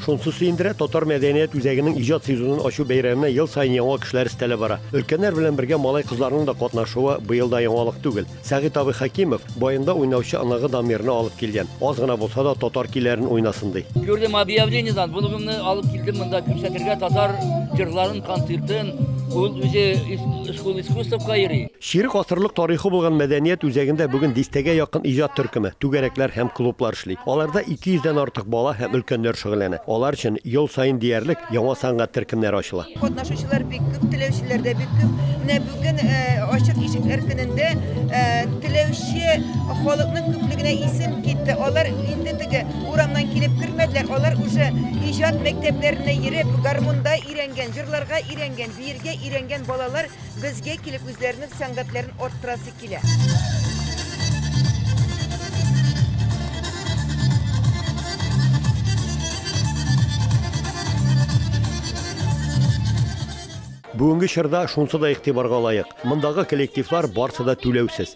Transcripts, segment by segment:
Шунсы сөендерә, татар мәдәният үзәгенең иҗат сезонын ачу бәйрәменә ел саен яңа кешеләр өстәлә бара. Өлкәннәр белән бергә малай-кызларның да катнашуы быел да яңалык түгел. Сәгыйть абый Хәкимов баянда уйнаучы оныгы Дамирны алып килгән. Аз гына булса да татар көйләрен уйнасын ди. Күрдем объявлениедан, оныгымны алып килдем монда күрсәтергә татар җырларын, концертын. Ул үзе школа искусствка йөри. Чирек гасырлык тарихы булган мәдәният үзәгендә бүген дистәгә якын иҗат төркеме, түгәрәкләр һәм клублар эшли. Аларда 200 дән артык бала һәм өлкәннәр шөгыльләнә. Алар өчен ел саен диярлек яңа сәнгать төркемнәре ачыла. Катнашучылар бик күп, теләүчеләр дә бик күп. Менә бүген Ачык ишекләр көнендә теләүче халыкның күплегенә исем китте. Алар инде теге урамнан килеп кермәделәр, алар уже иҗат мәктәпләренә йөреп, гармунда өйрәнгән, җырларга өйрәнгән, биергә өйрәнгән балалар. Безгә килеп үзләренең сәнгатьләрен арттырасы килә. Бүгенге чорда шунсы да игътибарга лаек, мондагы коллективлар барсы да түләүсез.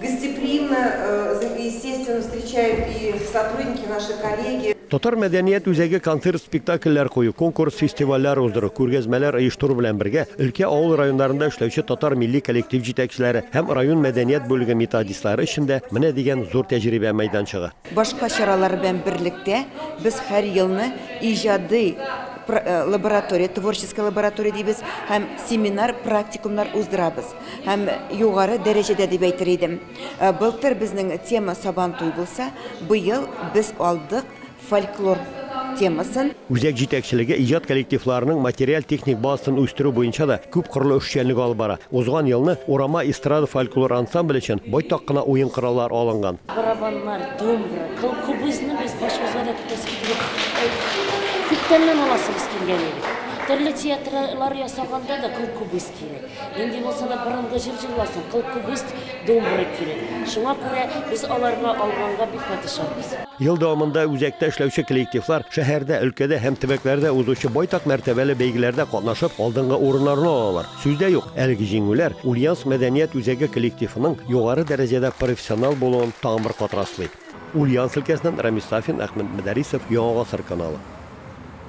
Гостеприимно, естественно встречают и сотрудники, наши коллеги. Татар мәдәният үзәге концерт-спектакльләр кую, конкурс-фестивальләр уздыру, күргәзмәләр оештыру белән бергә, өлкә, авыл районнарында эшләүче татар милли коллектив җитәкчеләре һәм район мәдәният бүлеге методистлары өчен дә менә дигән зур тәҗрибә мәйданчыгы. Башка чаралар белән берлектә, без һәр елны иҗади лаборатория, творческая лаборатория дибез, һәм семинар-практикумнар уздырабыз. һәм югары дәрәҗәдә дип әйтер идем. Былтыр безнең тема Сабантуй булса, быел без алдык фольклор темасын. Үзәк җитәкчелеге иҗат коллективларының материаль-техник базасын үстерү буенча да күп кырлы эшчәнлек алып бара. Узган елны Урама эстрада фольклор ансамбле өчен байтак кына уен кораллары алынган. Барабаннар, домбра, колхобызны без башыбызга да тотасы килеп, күптәннән аласыбыз килгән иде. Төрле театрлар ясаганда да колхобыз Кирәк. Нинди булса да борынгы җыр җырласын, кыл кубыст, думбра кирәк. Шуңа күрә без аларны алганга бик катышабыз. Ел дәвамында үзәктә эшләүче коллективлар шәһәрдә, өлкәдә һәм төбәкләрдә узучы байтак мәртәбәле бәйгеләрдә катнашып, алдынгы урыннарны алалар. Сүз дә юк, әлеге җиңүләр Ульяновск мәдәният үзәге коллективының югары дәрәҗәдә профессионал булуын тагын бер кат раслый. Ульяновск өлкәсеннән Рамис Сафин, Әхмәт Мөдәрисов, Яңа гасыр каналы.